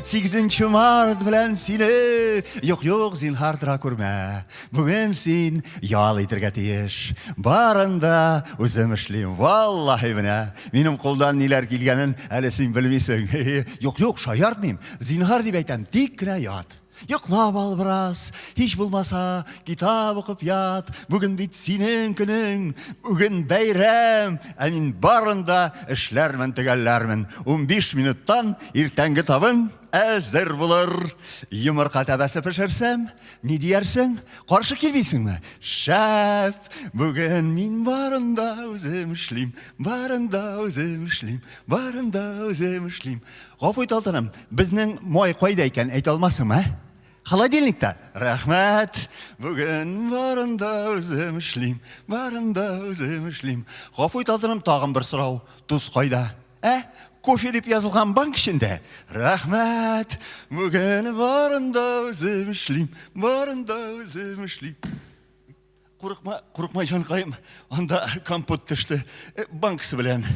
Сигезенче март белән сине юк юк зинһар тора күрмә. Бүген син ял итергә тиеш. Барында үзем эшлим. Валлаһи менә минем кулдан ниләр килгәнен әле син белмисең. Юк юк шаяртмыйм. Зинһар дип әйтәм, тик кенә ят. Йоклап ал бераз, һич булмаса, китап укып ят. Бүген бит синең көнең, бүген бәйрәм. Ә мин барында эшләрмен, төгәлләрмен. 15 минуттан Иртәнге табын әзер булыр. Йомырка тәбәсе пешерсәм, ни диярсең? Каршы килмисеңме? Шәп! Бүген мин барын да үзем эшлим, барын да үзем эшлим, барын да үзем эшлим. Гафу ит, алтыным, безнең май кайда икән, әйтә алмасыңмы, ә? Холодильникта. Рәхмәт. Бүген барын да үзем эшлим, барын да үзем эшлим. Гафу ит, алтыным, тагын бер сорау. Тоз кайда? Ә, кофе дип язылган банк эчендә. Рәхмәт, бүген барында үзем эшлим, барында үзем эшлим. Курыкма, курыкма җанкаем, анда компот төште. Э, Банксы белән.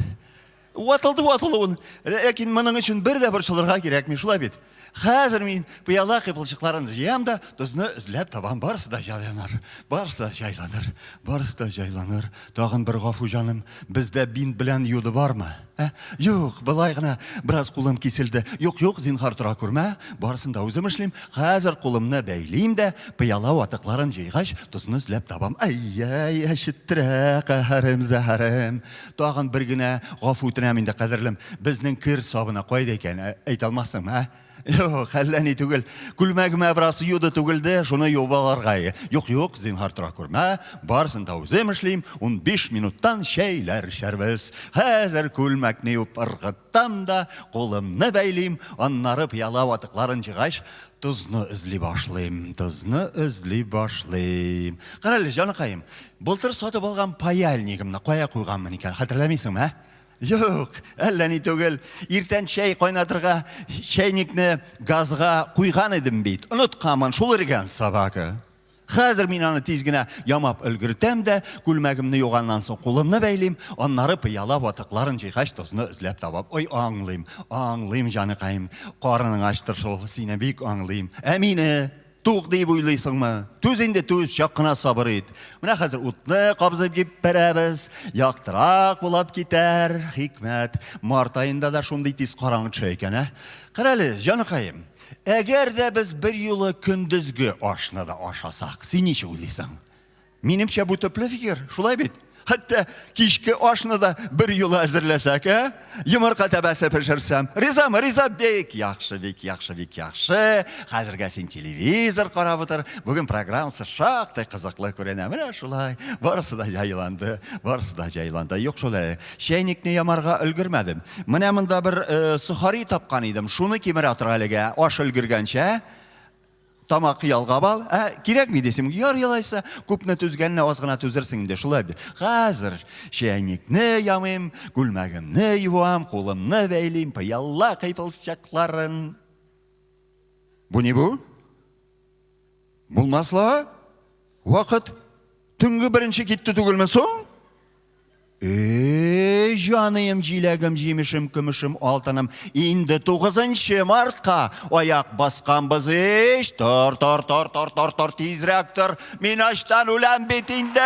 Ватылды ватылуын, ләкин моның өчен бер дә борчылырга кирәкми, шулай бит. Хәзер мин пыяла кыйпылчыкларын җыям да, тозны эзләп табам. Барысы да җайланыр. Барысы да җайланыр. Барысы да җайланыр. Тагын бер гафу җаным. Бездә бинт белән юды бармы? Ә? Юк, былай гына бераз кулым киселде. Юк, юк, зинхар тора күрмә. Барысын да үзем эшлим. Хәзер кулымны бәйлим дә, пыяла ватыкларын җыйгач, тозны эзләп табам. Әй-әй, әчеттерә каһәрем, зәһәрем. Тагын бер генә гафу үтенәм инде, кадерлем. Безнең кер сабына кайда икән? Ә, әйтә алмассыңмы, а? Юк, әллә ни түгел. Күлмәгемә бераз юды түгелде, шуны юып алырга. Юк, юк, зинһар тора күрмә. Барысын да үзем эшлим. 15 минуттан чәйләр эчәрбез. Хәзер күлмәкне юып ыргыт. Там да кулымны бәйлим, аннары пыяла ватыкларын җыйгач, тозны эзли башлыйм, тозны эзли башлыйм. Карале, җаныкаем, былтыр сатып алган паяльнигымны кая куйганмын икән, хәтерләмисеңме, ә? Юк, әллә ни түгел. Иртән чәй кайнатырга чәйникне газга куйган идем бит. Онытканмын, шул өргән собака. Хәзер мин аны тиз генә ямап өлгертәм дә, күлмәгемне юганнан соң кулымны бәйлим, аннары пыяла ватыкларын җыйгач тозны эзләп табам. Ой, аңлыйм, аңлыйм, җаныкаем, карының ачтыр шул, сине бик аңлыйм. Ә мине тук дип уйлыйсыңмы? Түз инде, түз, чак кына сабыр ит. Менә хәзер утны кабызып җиппәрәбез, яктырак булып китәр, хикмәт. Март аенда да шундый тиз караңгы төшә икән, ә? Карале, җаныкаем. Әгәр дә без берьюлы көндезге ашны да ашасак, син ничек уйлыйсың? Минемчә бу төпле фикер, шулай бит? Хәтта кичке ашны да бер юлы әзерләсәк, ә? Йомырка тәбәсе пешерсәм. Ризамы, риза, бик яхшы, бик яхшы, бик яхшы. Хәзергә син телевизор карап утыр. Бүген программасы шактый кызыклы күренә. Менә шулай. Барысы да җайланды, барысы да җайланды. Юк шулай. Чәйникне ямарга өлгермәдем. Менә монда бер э, сухари тапкан идем. Шуны кимерә тора әлегә. Аш өлгергәнчә тамак ялгап ал. Ә, кирәкми дисем, яр ялайса, күпне түзгәнне аз гына түзерсең инде, шулай бит. Хәзер чәйникне ямыйм, күлмәгемне юам, кулымны бәйлим, пыялла кыйпылчакларын. Бу ни бу? Булмасла, вакыт төнге беренче китте түгелме соң? Эй, җаныем, җиләгем, җимешем, көмешем, алтыным, инде тугызынчы мартка аяк басканбыз ич. Тор, тор, тор, тор, тор, тор, тизрәк тор. Мин ачтан үләм бит инде.